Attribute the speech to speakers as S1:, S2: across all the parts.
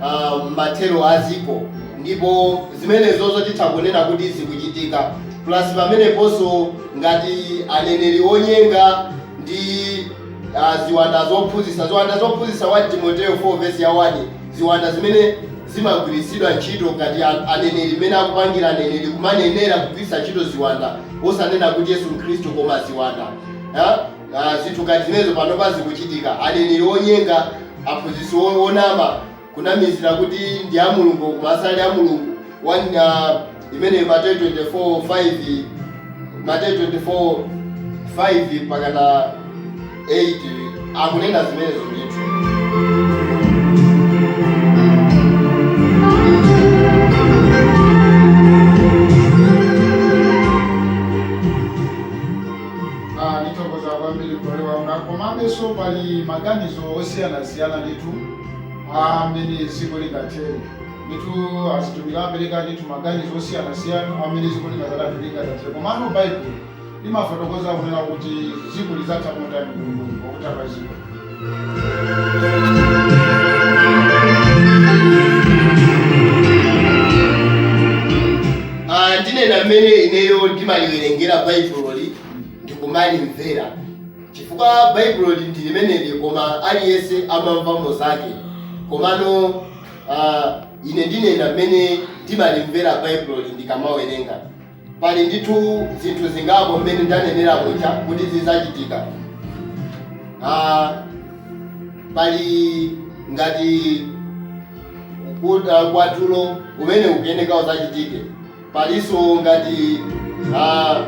S1: uh, mathero a dziko ndipo zimenezozo titha kunena kuti zikuchitika plus pameneponso ngati aneneri onyenga ndi uh, ziwanda zophunzitsa ziwanda zophunzitsa 1 timoteo 4 vesi ya 1 ziwanda zimene zimagwiritsidwa ntchito ngati aneneri mmene akupangira aneneri kumanenera kugwiritsa ntchito ziwanda osanena kuti yesu khristu koma ziwanda yeah? Ah, zinthu ngati zimenezo panopa zikuchitika. Aneneri onyenga, aphunzitsi o- onama, kunamizira kuti ndi a Mulungu koma asali a Mulungu. One, ah, imeneyo Mateyu 24 5 Mateyu 24 5 mpakana 8 akunena zimenezo ndithu.
S2: Ah, ndithokoza kwambiri m'bale wanga komabenso pali maganizo osiyanasiyana ndithu a mmene dziko lingathere ndithu azitumiki apereka ndithu maganizo osiyanasiyana a mmene dziko lingadzathe lingatathere komano baibulo limafotokoza kunena kuti dziko lidzatha motani kwenikweni pakutha pa dziko
S1: Ah, ndinena mmene ineyo ndimaliwerengera baibuloli ndikumalimvera chifukwa baibuloli ndi limeneli koma aliyense amamvamo zake komano ah, ine ndinena mmene ndimalimvera baibuloli ndikamawerenga Pali ndithu zinthu zingapo mmene ndanenera muja kuti zidzachitika. Ah, pali ngati mkwatulo umene ukuyeneka udzachitike. Palinso ngati ah,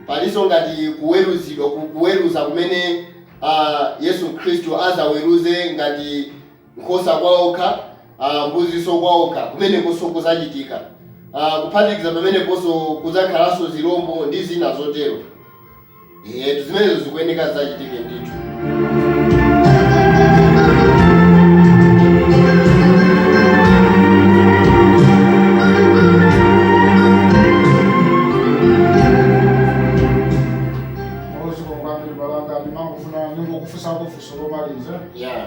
S1: palinso ngati kuweruzidwa ku- kuweruza kumene ah, Yesu Khristu adzaweruze ngati nkhosa kwaokha, uh, mbuzinso kwaokha, kumenekonso kuzachitika, uh, kuphatikiza pameneponso kudzakhalanso zilombo ndi zina zotero. Etu zimenezo zikuyeneka zachitike ndithu.
S2: Zikomo kwambiri m'bale wanga ndimangofuna ndingokufunsa funso lomaliza. Yeah.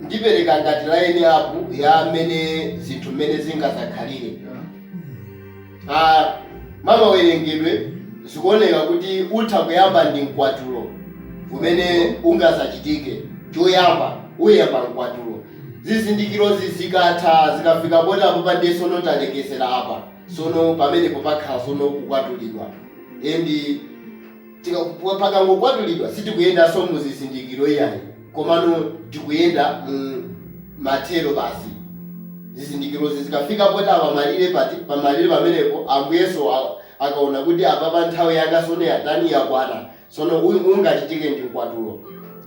S1: ndipereka ngati line up ya mmene zinthu mmene zingazakhalire ah, mwa mawerengedwe zikuoneka kuti utha kuyamba ndi mkwatulo umene ungazachitike choyamba uyamba mkwatulo zizindikirozi zikatha zikafika poti apo pa nde sono talekezera apa sono pamenepo pakhala sono kukwatulidwa endi Pakangokwatulidwa sitikuyendanso mu zizindikiro iyayi, komano tikuyenda mu mathero basi. Zizindikirozi zikafika poti apa malire, pati pamalire pamenepo Ambuyenso akaona kuti apapa nthawi yanga tsono yatani, yakwana, tsono ungachitike ndi mkwatulo.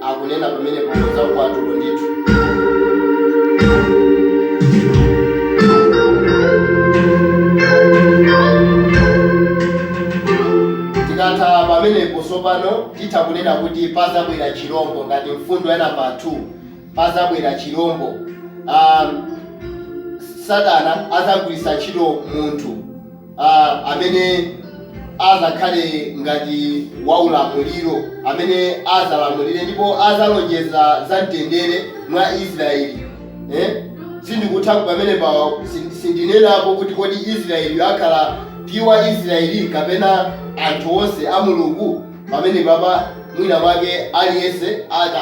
S1: akunena pamenepo za mkwatulo ndithu tikatha pamenepo tsopano titha kunena kuti pazabwera chilombo ngati mfundo ya namba 2 pazabwera chilombo um, satana azagwiritsa ntchito munthu ah, amene azakhale ngati waulamuliro amene azalamulire ndipo azalonjeza za mtendere mwa Israeli eh? sindikutha pamenepa sindinenapo kuti kodi Israeli akhala piwa Israeli kapena anthu onse a Mulungu pamenepapa mwina mwake aliyense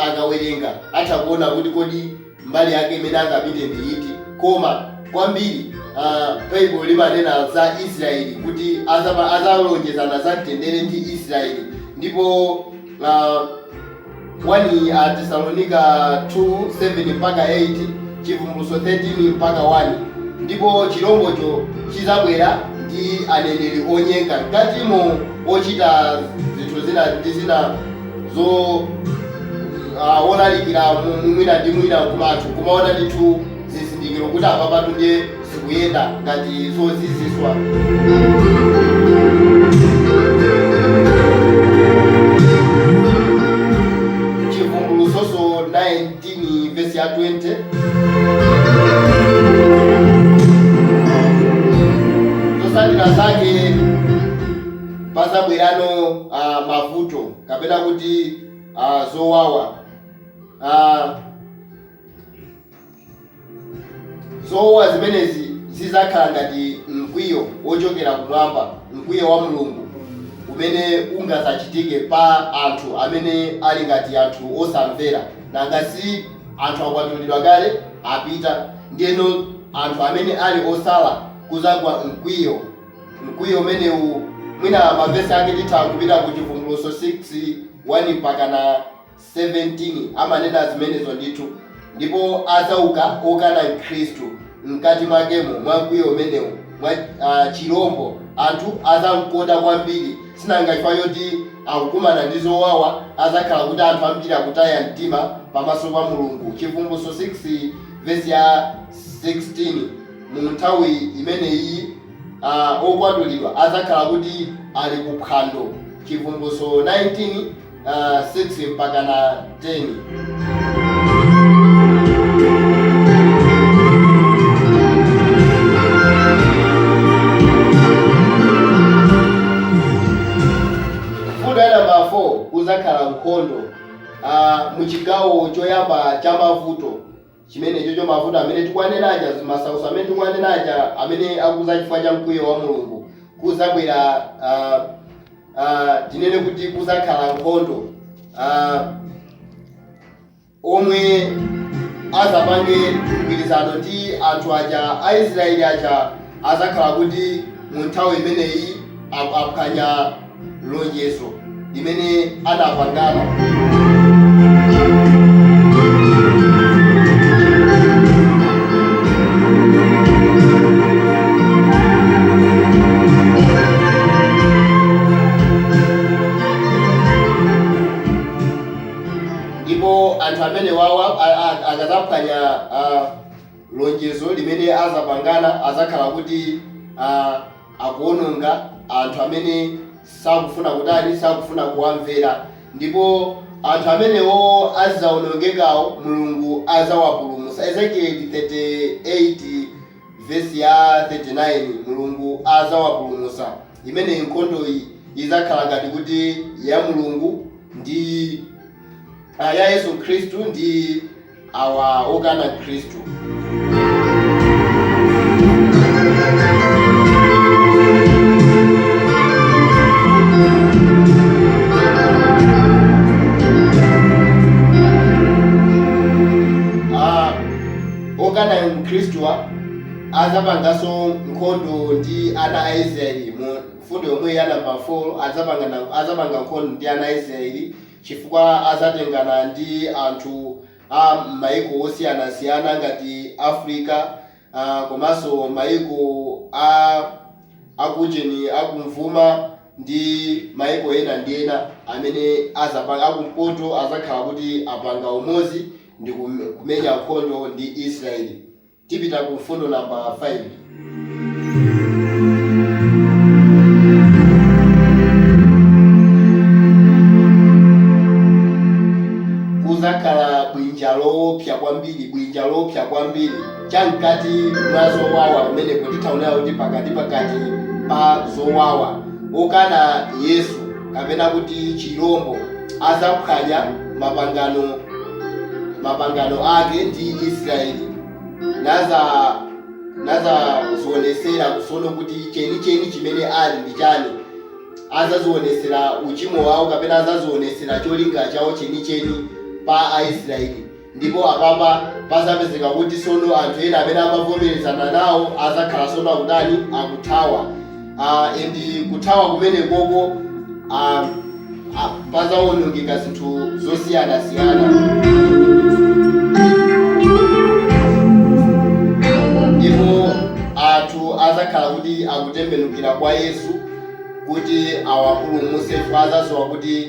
S1: akawerenga atha kuona kuti kodi mbali yake imene angapite ndi iti? Koma kwambiri, a, Baibulo limanena za Israeli, kuti adzapa, azalonjezana za mtendere ndi Israeli. Ndipo a, 1 Atesalonika 2 7 mpaka 8, Chivumbulutso 13 mpaka 1, ndipo chilombocho chizabwera ndi aneneri onyenga mkatimo, ochita zinthu zina ndi zina. zo ah, wolalikira mu- mu- mwina ndi mwina nkumatu kumaona ndithu zizindikiro kuti apapatu ndiye zikuyenda ngati zoziziswa chivumbulutso 19 vesi ya 20 zotsatira zake pazabwerano uh, mavuto kapena kuti uh, zowawa uh, zowawa zimenezi zizakhala ngati mkwiyo wochokera kumwamba mkwiyo wa mulungu umene ungazachitike pa anthu amene ali ngati anthu osamvera nanga si anthu akwatulidwa kale apita ndiyeno anthu amene ali osala kuzagwa mkwiyo Mkwiyo umenewu mwina mavesi ake titha kupita ku Chivumbulutso 6, 1 mpakana 17 amanena zimenezo ndithu. Ndipo adzauka okana Khristu mkati mwakemo mwa mkwiyo umenewu mwa, a, chilombo, anthu azamkonda kwambiri sinanga chifukwa choti akukumana ndi zowawa adzakhala kuti anthu ambiri akutaya mtima pamaso pa Mulungu, Chivumbulutso 6 vesi ya 16. Mu nthawi imeneyiyi, a okwatulidwa azakhala kuti ali ku phwando, Chibvumbulutso 19, 6 mpaka na 10. Mfundo ya nambala 4, kuzakhala nkhondo mu chigawo choyamba cha mavuto. chimenecho, cha mavuto amene tikuwanena aja, zimasautso amene tikuwanena aja, amene akuza chifukwa cha mkwiyo wa Mulungu, kuzabwera, a, a, tinene kuti kuzakhala nkhondo, a, omwe azapange mgwirizano ndi anthu aja a Israeli aja azakhala kuti mu nthawi imeneyi ap- aphwanya lonjezo limene anapangana ndipo anthu amenewawa a- a- akazaphwanya ah, lonjezo limene azapangana azakhala kuti ah, akuwononga anthu amene sakufuna kutani, sakufuna kuwamvera. Ndipo anthu amenewo azawonongekawo, Mulungu azawapulumutsa. Ezekieli 38 vesi ya 39, Mulungu azawapulumutsa. Imeneyi nkhondoyi izakhala ngati kuti ya Mulungu ndi, a, ya Yesu Khristu ndi. awa okana khristu Ah, okana khristuwa azapanganso nkhondo ndi ana a israeli mu mfundo yomwe ya namba 4 azapanga na- azapanga nkhondo ndi ana a israeli chifukwa azatengana ndi anthu a mayiko osiyanasiyana ngati Africa komanso mayiko a akujeni akumvuma ndi mayiko ena ndi ena amene azapanga, akumpoto azakhala kuti apanga umodzi ndikumenya nkhondo ndi Israel. Tipita ku mfundo namba 5. Kuzakhala bwinja loopsa kwambiri, bwinja loopsa kwambiri, cha mkati mwa zowawa pamenepo. Titha kunena kuti pakati pakati pa zowawa. Okana Yesu. kapena kuti chirombo azaphwanya mapangano ake ndi israeli nazazionesera kusono kuti cheni cheni chimene ali ndi chani azazionesera uchimo wawo kapena azazionesera cholinga chawo cheni cheni pa aisraeli Ndipo apapa pazapezeka kuti sono anthu ena amene amavomelezana nawo azakhala sono akutani? Akuthawa. Uh, and kuthawa kumene koko uh, uh, pazawonongeka zinthu zosiyana siyana. Ndipo anthu azakhala kuti akutembenukira kwa Yesu kuti awapulumuse chifukwa azaziwa kuti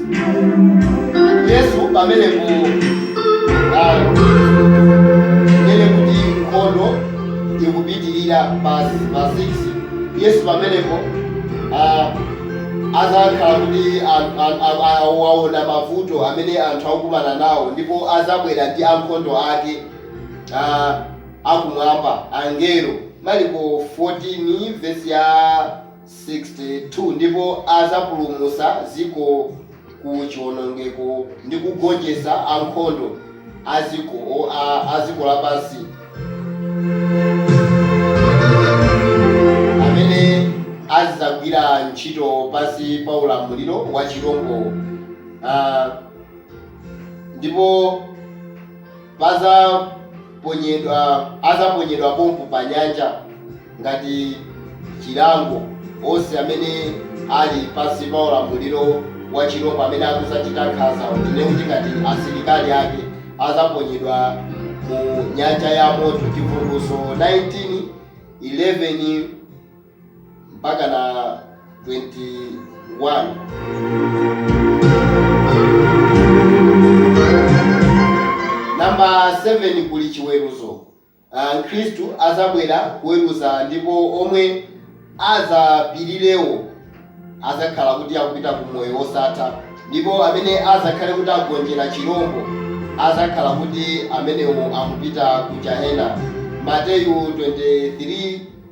S1: Yesu pamenepo, a, tinene kuti nkhondo ikupitirira namba 6, Yesu pamenepo, a, adzakhala kuti an, an, a, a, waona mavuto amene anthu akumana nawo, ndipo adzabwera ndi ankhondo ake a, akumwamba, angelo, Mariko 14 vesi ya. 62 ndipo adzapulumutsa dziko ku chiwonongeko, ndi kugonjetsa ankhondo a dziko, o, a, a dziko lapansi, amene azidzagwira ntchito pansi pa ulamuliro wa chirombo, a, ndipo. padzaponyedwa, adzaponyedwa pompo pa nyanja ngati chilango onse amene ali pansi pa ulamuliro wa chirombo amene akudzachita nkhanza tinene kuti ngati asilikali ake adzaponyedwa mu nyanja ya moto chivumbulutso 19 11 mpakana 21. Number 7 kuli chiweruzo. Ah, Mkhristu adzabwera kuweruza ndipo omwe adzapirirewo adzakhala kuti akupita ku moyo wosatha ndipo amene adzakhale kuti agonjera chirombo adzakhala kuti amenewo akupita ku jahena. Mateyu 23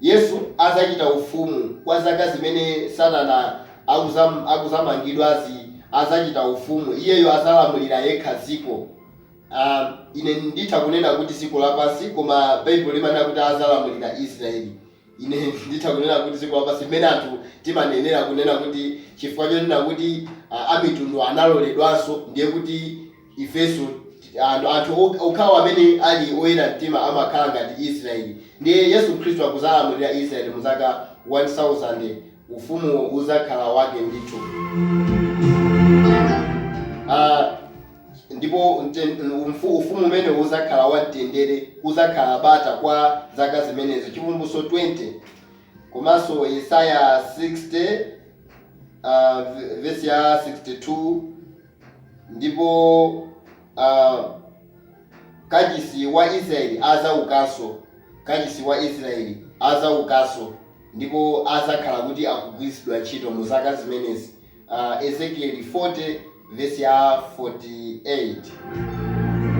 S1: Yesu azachita ufumu kwa zaka zimene satana akuzamangidwazi azachita ufumu iyeyo azalamulira yekha dziko aah ine nditha kunena kuti dziko lapansi koma baibulo limanena kuti azalamulira Israel ine nditha kunena kuti dziko lapansi mmene anthu timanenera kunena kuti chifukwa chonena kuti amitundu analoledwanso ndiye kuti ifenso anthu okhawo amene ali oyera mtima amakhala ngati Israeli. Ndiye Yesu Khristu akuzalamulira Israeli mu zaka 1000, ufumu uzakhala wake ndithu. A. Ndipo ufumu umenewo uzakhala wa mtendere, kuzakhala bata kwa zaka zimenezo. Chivumbulutso 20 komanso Yesaya 60 vesi ya 62, 63. Ndipo a, kachisi wa Israeli adzawukanso, kachisi wa Israeli adzawukanso ndipo adzakhala kuti akugwiritsidwa ntchito mu zaka zimenezi, a, Ezekieli 40 vesi ya 48.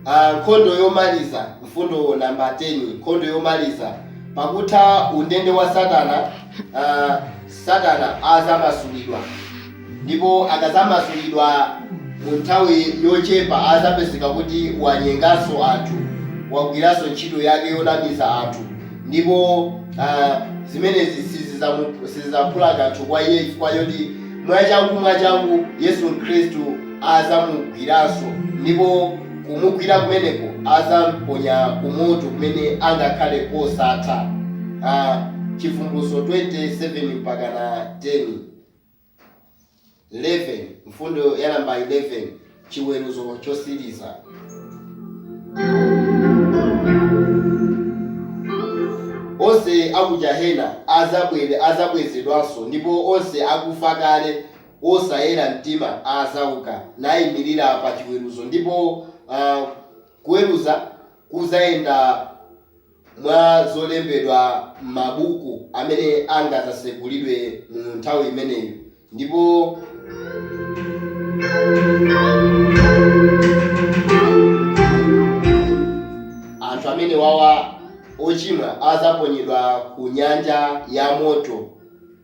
S1: A, nkhondo yomaliza, Mfundo namba 10, Nkhondo yomaliza. Pakutha undende wa Satana, uh, Satana azamasulidwa ndipo akazamasulidwa mu nthawi yochepa azapezeka kuti wanyenganso anthu, wagwiranso ntchito yake yonamiza anthu ndipo uh, zimenezi sizizamu- sizizaphula kanthu kwa iye chifukwa choti mwachangu mwachangu Yesu Khristu adzamugwiranso, ndipo kumugwira kumeneko adzamponya ku moto kumene angakhale kosatha. Ha, Chivumbulutso 20, 7 mpakana 10, 11, mfundo ya namba 11, chiweruzo chotsiriza. Onse a ku jahena adzabwe- adzabwezedwanso, ndipo onse akufa kale osayera mtima adzauka naimirira pa chiweruzo, ndipo a, kuweruza kudzayenda mwa zolembedwa mmabuku amene angadzatsegulidwe mu nthawi imeneyo. Ndipo. anthu amenewawa, ochimwa, adzaponyedwa ku nyanja ya moto.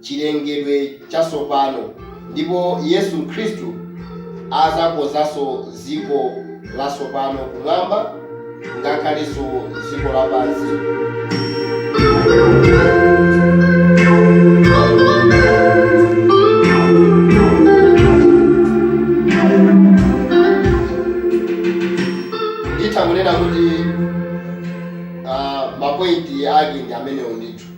S1: chilengedwe chatsopano ndipo Yesu Khristu adzakonzanso dziko latsopano kumwamba ngakhalenso dziko lapansi. Nditha kunena kuti ma point ake ndi amenewo ndithu.